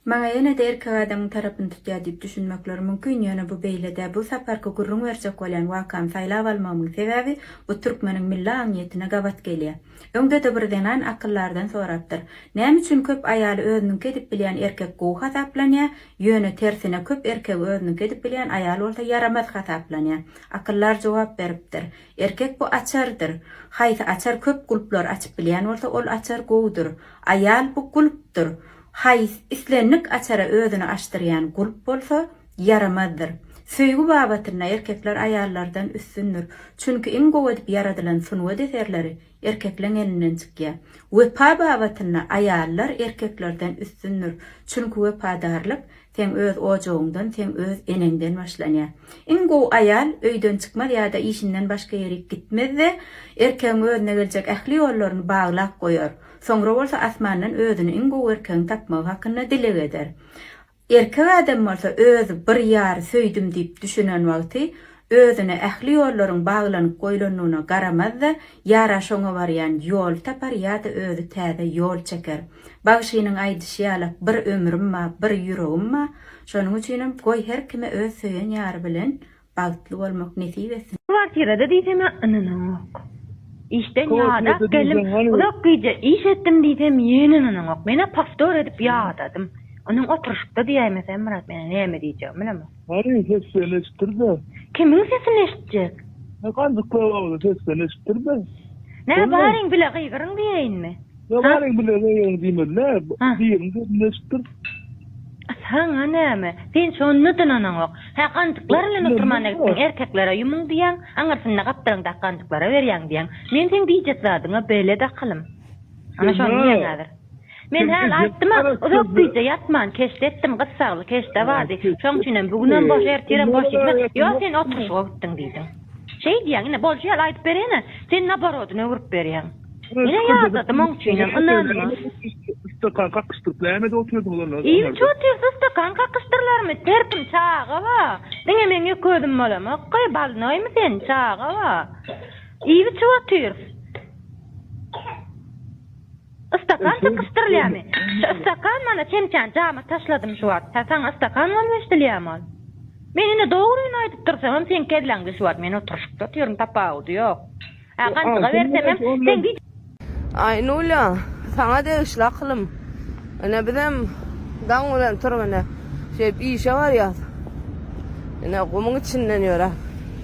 Maňa ýene-de erkek adamyň tarapyny tutýar diýip düşünmekleri mümkin, ýöne bu beýle-dä. Bu saparky gürrüň berjek bolýan wakamy saýlap almagymyň sebäbi, bu türkmeniň milli aňyýetine gabat gelýär. Öňde-de bir zenan akyllardan sorapdyr. Näme üçin köp aýaly özüniňki edip bilýän erkek gowy hasaplanýar, ýöne tersine köp erkegi özüniňki edip bilýän aýal bolsa ýaramaz hasaplanýar? Akyllar jogap beripdir. Erkek bu açardyr. Haýsy açar köp gulplary açyp bilýän bolsa ol açar gowudyr. Aýal bu gulpdyr. Haýs islendik açara özüni açdyrýan gulp bolsa ýaramazdyr. Söýgi babatynda erkekler aýallardan üstündir. Çünki iň gowy edip ýaradylan sungat eserleri erkekleň elinden çykýar. Wepa babatynda aýallar erkeklerden üstündir. Çünki wepadarlyk Seň öz ojagyňdan, seň öz eneňden başlanýar. Iň gowy aýal öýden çykmaz ýa-da işinden başga ýerik gitmez-de, erkegiň özüne geljek ähli ýollaryny baglap goýar. Soňra bolsa asmandan özüne iň gowy erkegiň tapmagy hakynda dileg eder. Erkek adam bolsa özi bir ýary söýdüm diýip düşünen wagty, Özüne ähli ýollaryň baglanyp goýlandygyna garamaz-da, ýara şoňa barýan ýol tapar ýa-da özi täze ýol çeker. Bagşynyň aýdyşy ýalak bir ömrüm ba, bir ýüregim ba, şonuň üçinem goý her kime öz söýen ýary bilen bagtly bolmak nesip etsin. Kwartirada diýsem-ä ynanaňok. Işden ýadak geldim, uzak gije iş etdim diýsem ýene ynanaňok. Men-ä powtor edip ýadadym. Onuň oturyşykda diýäýmese Myrat menä näme diýjegimi bilemok. Hany ses beren eşitdirde. Kimiň sesini eşitjek. He ganjyk köwegli ses beren eşitdirde. Nä baryň bile gygyryň diýeýinmi. Nä baryň bile gygyryň diýmeli nä biriň sesini eşitdir. Saňa näme sen şonda dynanaňok. Hä ganjyklar bilen oturmana gitdiň erkeklere ýumuň diýýäň aňyrsynda gapdalyňdaky ganjyklara berýäň diýýäň. Men seň diýjek zadyňa belet akylym. Ana şony diýýäň häzir. Men häli aýtdym-a, uzak gije ýatman, keşde etdim, gyssagly keşde bardy. Şoň üçinem bu günem boş, ertirem boş diýdim-ä. Ýok, sen oturyşyga gitdiň diýdiň. Şeý diýýäň, ine, bolşy ýaly aýdyp berýän-ä, sen naborodyny öwrüp berýäň. Ine, ýadadym, oň üçinem ynanma. Stakan kakyşdyryp nämede otyrdyňyz onda? Ilçi otyrsa stakan kakyşdyrlarmy? Terpim, çaga-a! Diňe meň ýeke özüm bolamok-ka, bolnoýmy sen, çaga-a! Iýip-içip otyrys. Ystakan tykyşdyrylýamy? Şu ystakan mana çemçäni jama taşladym şu wagt. Hä, saňa ystakan bolup eşdilýämi ol? Men ine dogryny aýdyp dursamam seň kelläňde şu wagt men oturyşykda otyryn tapawudy ýok. Hä, gantyga bersemem seň Aýnulýa, saňa degişli akylym. Ine bizem daň bilen turup ine şeýdip işe barýas. Ine gumuň içinden ýöräp.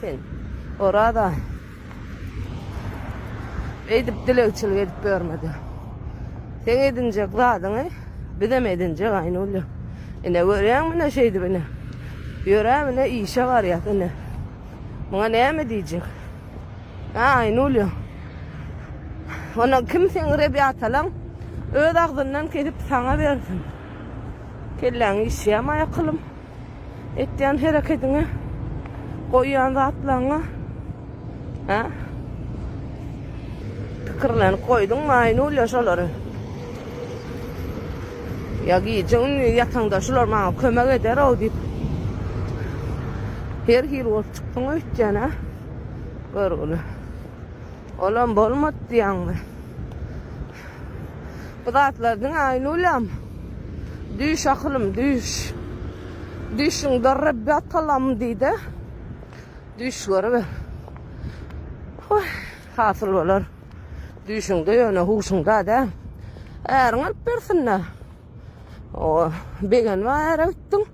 Sen, Oraz-a, eýdip dilegçilik edip ýörme-de. Seň edinjek zadyňy bizem edinjek, Aýnulja. Ine, görýäňmi, ine, şeýdip, ine, ýöräp, ine, işe barýas, ine. Muňa näme diýjek? Hä, Aýnulja? Ondan kim seňrep ýatalaň, öz agzyndan kesip saňa bersin. Kelläň işýärmi, aýakylym? Etýän herekediňe, goýýan zatlaryňa ha? Pikirlenip goýduňmy Aýnulýa şolary? Ya gije ünlü yatanda şular maňa kömek eder o diýip. Her hil bolup çykdyň öýtýän ha. Görgüli. Olam bolmady diýýäňmi? Bu zatlar diňe Aýnulýamy? Düş akylym, düş. Düşüňde Rebbi atalam diý-de, düş görüber. Hoý, hasyl bolar. Düşüňde ýöne huşuňda däl. Äriň alyp bersin-dä. O, begenme ara gitdin.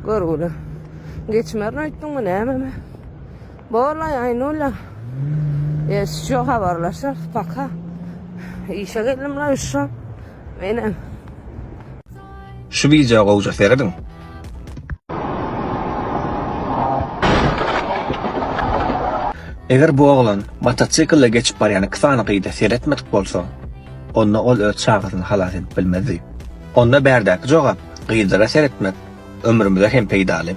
Görgüle. Geçmerin öýtdin mi näme? Bolay Aynula. E, şu habarlaşar. Paka. İşe geldim la şu. Benim. Şu video gowja seredin. Eger bu oglan motosiklle geçip barýan iki sany gyza seretmedik bolsa, onda ol öz çagasyny halas edip bilmezdi. Onda bärdäki jogap, gyzlara seretmek ömrümize hem peýdaly.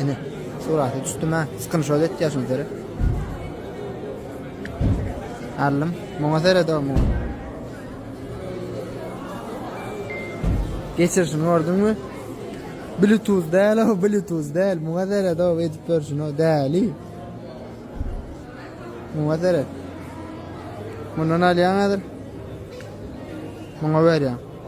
Ene, suraty düşdüm ha. Skrinşot etýär şuny seret. Allym, muňa seret o muňa. Geçirişini gördüňmi? Bluetooth däl o, Bluetooth däl. Muňa seret o, edip görüşini o, däli. Muňa seret. Mundan alýan hazır. Muňa berýän.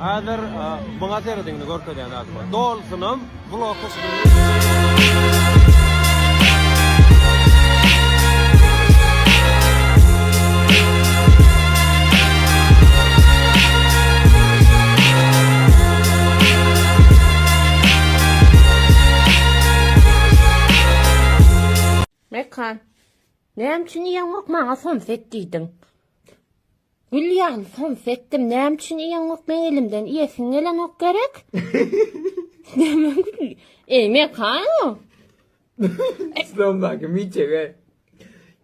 Häzir muňa serediň indi görkezýän zadyma. Dolsunam bloka Mekan. Näme üçin ýaňyryk maňa somset diýdiň? Gül ýaly sons etdim näme üçin iýeňok meň elimden iýesiň gelenok gerek. Näme gül. Eý mekano. Slomdaki miçege.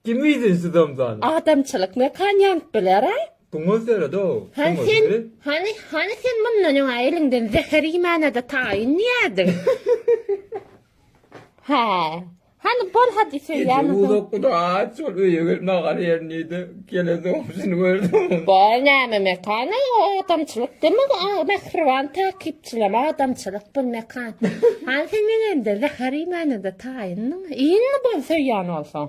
Kim iýdi slomdany? Adamçylyk mekan ýanyp biler a. Tuňňuz döredi o. Hany sen hany hany sen mundan öňe eliňden zäher iýmänede taýyn diýerdiň. Hä. Hany bol hadi söýýämiň. Gije uzakda aç bol öýe gel magal ýerin diýdi. Gelen soňusyn gördüm. Bol näme mekan aý o adamçylyk deme mähriban takypçylam adamçylyk bul mekan. Hany sen meňemde zäher iýmäne-de taýyndyň. Iýinmi bol söýýän bolsaň.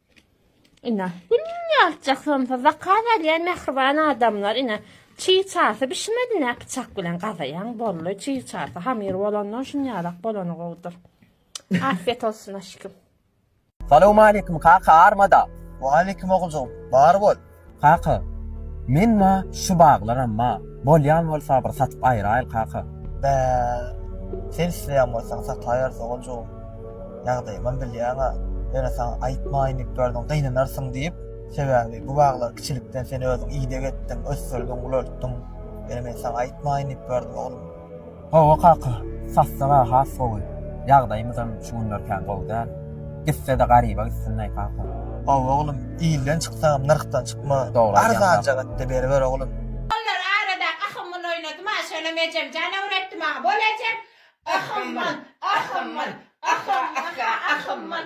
Ine, günde aljak somsa zakaz alýan mähriban adamlar, ine, çig çarsy bişmedi, nä pyçak bilen gazaýaň, bolly, çig çarsy hamyr bolandan şun ýalak bolany gowudyr. Afiyet olsun aşkim. Salowmaleýkim kaka armada. Waleýkim oguljygym. Bar bol. Kaka, men ma şu baglaram ma, bolýan bolsa bir satyp aýyraýyl kaka. Bä, sen isleýän bolsaň sataýarys oguljygym. Ýagdaýymam bilýäň-ä, ýöne saňa aýtmaýyn diýip ýördüm, gynanarsyň diýip. Sebäbi bu baglary kiçilikden sen özüň ideg etdiň, ösdürdiň, ulaltdyň. Ýöne men saňa aýtmaýyn diýip ýördüm, oglum. Gowy kaka, sassy-a has gowy. Ýagdaýymyzam şu günler kän gowy däl. Gitse-de garyba gitsin-leý kaka. Gowy oglum, ilden çyksagam nyrhdan çykma. Dogry aýdýaň kaka. Arzanja gatda beriber oglum. Bollar arada ahymyn oýnadym a şolam ejem janawr etdi maňa bol ejem ahymyn ahymyn ahym aha ahymyn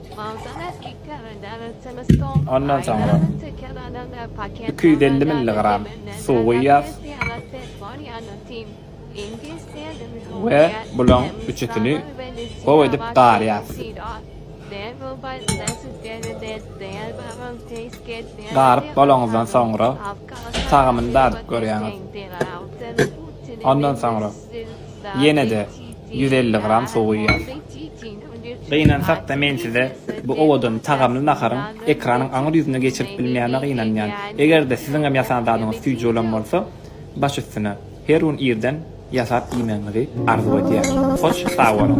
Ondan soňra iki ýüz elli milligram suw guýýas we bulaň üçüsini gowy edip garýas. Garyp bolaňyzdan soňra, tagamyny dadyp görýäňiz. Ondan soňra. Ýene-de ýüz elli gram suw guýýas. Gynansak-da men size bu owadan, tagamly naharyň ekranyň aňyr ýüzüne geçirip bilmeýänime gynanýan. Eger-de siziňem ýasan zadyňyz süýji bolan bolsa, baş üstüne, her gün irden ýasap iýmegiňizi arzuw edýän. Hoş sag boluň!